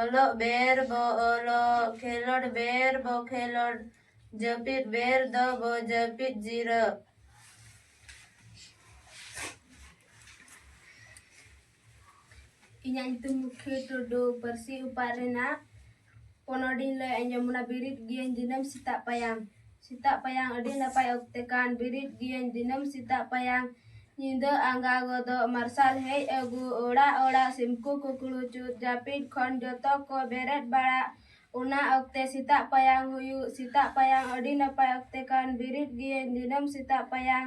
ᱚᱞᱚᱜ ᱵᱮᱨ ᱵᱚ ᱚᱞᱚᱜ ᱠᱷᱮᱞᱚᱰ ᱵᱮᱨ ᱵᱚ ᱠᱷᱮᱞᱚᱰ ᱡᱟᱹᱯᱤᱫ ᱵᱮᱨ ᱫᱚ ᱵᱚ ᱡᱟᱹᱯᱤᱫ ᱡᱤᱨᱟᱹᱜ ᱤᱧᱟᱹᱜ ᱧᱩᱛᱩᱢ ᱢᱩᱠᱷᱤ ᱴᱩᱰᱩ ᱯᱟᱹᱨᱥᱤ ᱚᱯᱟᱜ ᱨᱮᱱᱟᱜ ᱯᱚᱱᱚᱰᱤᱧ ᱞᱟᱹᱭ ᱟᱸᱡᱚᱢ ᱵᱚᱱᱟ ᱵᱮᱨᱮᱫ ᱜᱤᱭᱟᱹᱧ ᱫᱤᱱᱟᱹᱢ ᱥᱮᱛᱟᱜ ᱯᱟᱭᱟᱨ ᱥᱮᱛᱟᱜ ᱯᱟᱭᱟᱝ ᱟᱹᱰᱤ ᱱᱟᱯᱟᱭ ᱚᱠᱛᱮ ᱠᱟᱱ ᱵᱮᱨᱮᱫ ᱜᱤᱭᱟᱹᱧ ᱫᱤᱱᱟᱹᱢ ᱥᱮᱛᱟᱜ ᱯᱟᱭᱟᱝ ᱧᱤᱫᱟᱹ ᱟᱸᱜᱟ ᱜᱚᱫᱚᱜ ᱢᱟᱨᱥᱟᱞ ᱦᱮᱡ ᱟᱹᱜᱩ ᱚᱲᱟᱜ ᱚᱲᱟᱜ ᱥᱤᱢ ᱠᱚ ᱠᱩᱠᱲᱩ ᱪᱩᱜ ᱡᱟᱹᱯᱤᱫ ᱠᱷᱚᱱ ᱡᱚᱛᱚ ᱠᱚ ᱵᱮᱨᱮᱫ ᱵᱟᱲᱟᱜ ᱚᱱᱟ ᱚᱠᱛᱮ ᱥᱮᱛᱟᱜ ᱯᱟᱭᱟᱝ ᱦᱩᱭᱩᱜ ᱥᱮᱛᱟᱜ ᱯᱟᱭᱟᱝ ᱟᱹᱰᱤ ᱱᱟᱯᱟᱭ ᱚᱠᱛᱮ ᱠᱟᱱ ᱵᱮᱨᱮᱫ ᱜᱤᱭᱟᱹᱧ ᱫᱤᱱᱟᱹᱢ ᱥᱮᱛᱟᱜ ᱯᱟᱭᱟᱝ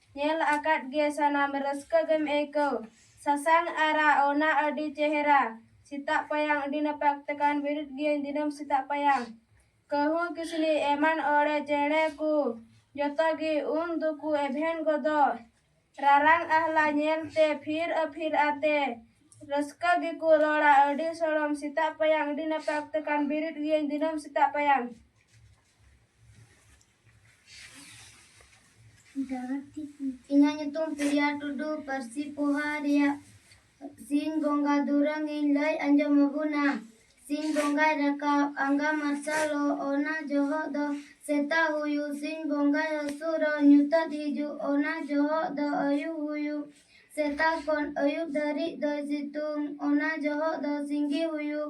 ᱧᱮᱞ ᱟᱠᱟᱫ ᱜᱮ ᱥᱟᱱᱟᱢ ᱨᱟᱹᱥᱠᱟᱹ ᱜᱮᱢ ᱟᱹᱭᱠᱟᱹᱣ ᱥᱟᱥᱟᱝ ᱟᱨᱟᱜ ᱚᱱᱟ ᱟᱹᱰᱤ ᱪᱮᱦᱨᱟ ᱥᱮᱛᱟᱜ ᱯᱟᱭᱟᱝ ᱟᱹᱰᱤ ᱱᱟᱯᱟᱭ ᱚᱠᱛᱮ ᱠᱟᱱ ᱵᱮᱨᱮᱫ ᱜᱤᱭᱟᱹᱧ ᱫᱤᱱᱟᱹᱢ ᱥᱮᱛᱟᱜ ᱯᱟᱭᱟᱝ ᱠᱟᱹᱦᱩ ᱠᱤᱥᱱᱤ ᱮᱢᱟᱱ ᱚᱬᱮ ᱪᱮᱬᱮ ᱠᱚ ᱡᱚᱛᱚ ᱜᱮ ᱩᱱ ᱫᱚᱠᱚ ᱮᱵᱷᱮᱱ ᱜᱚᱫᱚᱜ ᱨᱟᱨᱟᱝ ᱟᱦᱞᱟ ᱧᱮᱞ ᱛᱮ ᱯᱷᱤᱨ ᱟᱹᱯᱷᱤᱨ ᱟᱛᱮ ᱨᱟᱹᱥᱠᱟᱹ ᱜᱮᱠᱚ ᱨᱚᱲᱟ ᱟᱹᱰᱤ ᱥᱚᱲᱚᱢ ᱥᱮᱛᱟᱜ ᱯᱟᱭᱟᱝ ᱟᱹᱰᱤ ᱱᱟᱯᱟᱭ ᱚᱠᱛᱮ ᱠᱟᱱ ᱵᱮᱨᱮᱫ ᱜᱤᱭᱟᱹᱧ ᱫᱤᱱᱟᱹᱢ ᱥᱮᱛᱟᱜ ᱯᱟᱭᱟᱝ ᱤᱧᱟᱹᱜ ᱧᱩᱛᱩᱢ ᱯᱨᱤᱭᱟ ᱴᱩᱰᱩ ᱯᱟᱹᱨᱥᱤ ᱯᱚᱦᱟ ᱨᱮᱭᱟᱜ ᱥᱤᱧ ᱵᱚᱸᱜᱟ ᱫᱩᱨᱟᱹᱝ ᱤᱧ ᱞᱟᱹᱭ ᱟᱸᱡᱚᱢ ᱟᱵᱚᱱᱟ ᱥᱤᱧ ᱵᱚᱸᱜᱟᱭ ᱨᱟᱠᱟᱵ ᱟᱸᱜᱟ ᱢᱟᱨᱥᱟᱞᱚᱜ ᱚᱱᱟ ᱡᱚᱦᱚᱜ ᱫᱚ ᱥᱮᱛᱟᱜ ᱦᱩᱭᱩᱜ ᱥᱤᱧ ᱵᱚᱸᱜᱟᱭ ᱦᱟᱹᱥᱩᱨᱚᱜ ᱧᱩᱛᱟᱹᱛ ᱦᱤᱡᱩᱜ ᱚᱱᱟ ᱡᱚᱦᱚᱜ ᱫᱚ ᱟᱹᱭᱩᱵ ᱦᱩᱭᱩᱜ ᱥᱮᱛᱟᱜ ᱠᱷᱚᱱ ᱟᱹᱭᱩᱵ ᱫᱷᱟᱹᱨᱤᱡ ᱫᱚᱭ ᱥᱤᱛᱩᱝ ᱚᱱᱟ ᱡᱚᱦᱚᱜ ᱫᱚ ᱥᱤᱸᱜᱤ ᱦᱩᱭᱩᱜ